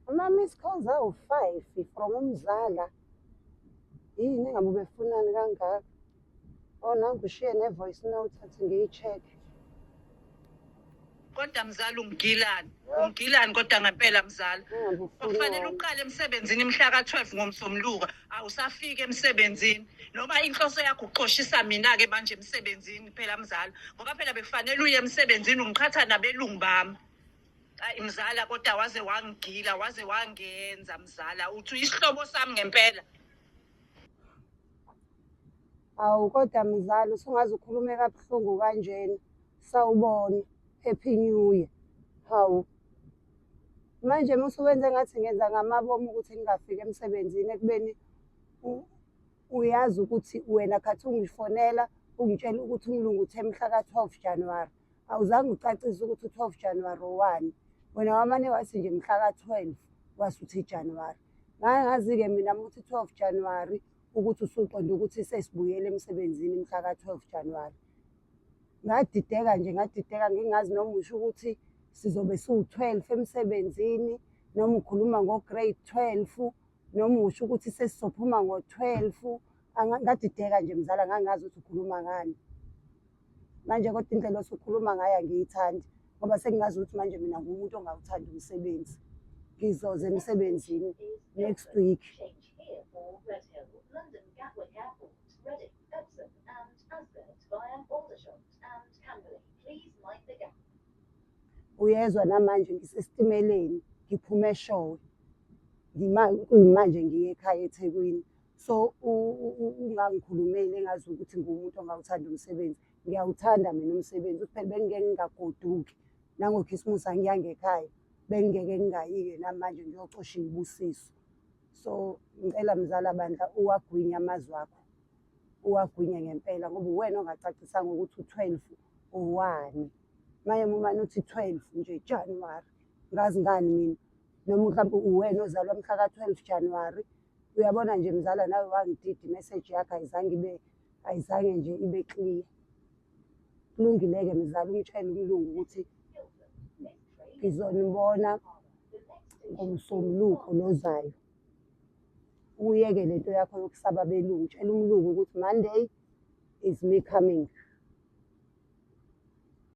Ama-miss calls awu-five from umzala yini ngabe ubefunani kangaka o oh, nangishiye ne-voice note athi ngiyi-check-e kodwa mzala ungigilani ungigilani kodwa ngempela mzala kufanele uqale emsebenzini imhla ka-12 ngomsombuluka awusafiki emsebenzini noma inhloso yakho uxoshisa mina-ke manje emsebenzini phela mzala ngoba phela bekufanele uye emsebenzini ungiqhatha nabelungu bami Ay mzala kodwa waze wangigila waze wangenza mzala uthi uyisihlobo sami ngempela. Awu kodwa mzala usungaze ukhulume kabuhlungu kanjena. Sawubona. Happy New Year. Hawu. Manje musuwenze ngathi ngenza ngamabomu ukuthi ngingafiki emsebenzini ekubeni u- uyazi ukuthi wena khathi ungifonela ungitshela ukuthi umlungu uthe mhla ka-12 January. awuzange ucacise ukuthi u-12 januwari owani wena wamane wathi nje mhla ka-12 wasuthi ijanuwari ngake ngazi-ke mina muthi 12 januwari ukuthi usuqonde ukuthi sesibuyele emsebenzini mhla ka-12 januwari ngadideka nje ngadideka ngingazi noma usho ukuthi sizobe siwu-12 emsebenzini noma ukhuluma ngo-grade 12 noma usho ukuthi sesizophuma ngo-12 ngadideka nje mzala ngangazi ukuthi ukhuluma ngani manje kodwa indlela osukhuluma ngayo angiyithandi ngoba sengingazi ukuthi manje mina ngumuntu ongawuthandi umsebenzi ngizoze emsebenzini next week uyezwa namanje ngisesitimeleni ngiphume eshowe ngimanje ngiye ekhaya ethekwini so ungangikhulumeli engazi ukuthi ngumuntu ongawuthanda umsebenzi ngiyawuthanda mina umsebenzi kuphela bengingeke ngingagoduki nangokhisimusi angiyangekhaya bengingeke ngingayike namanje ngiyocosha ibusiso so ngicela mzala bandla uwagwinye amazwi akho uwagwinye ngempela ngoba uwena ongacacisanga ukuthi u-twelve uwani maye mumane uthi twelve nje januwari ngazi ngani mina noma mhlawumbe uwena ozalwa mhla ka-twelve januwari 2023 uyabona nje mzala nawe wangididi message yakho ayizange ibe ayizange nje ibe clear kulungileke mzala umtshayele umlungu ukuthi ngizonibona ngomsombuluko lozayo uyeke le nto yakho yokusaba belungu tshela umlungu ukuthi monday is me coming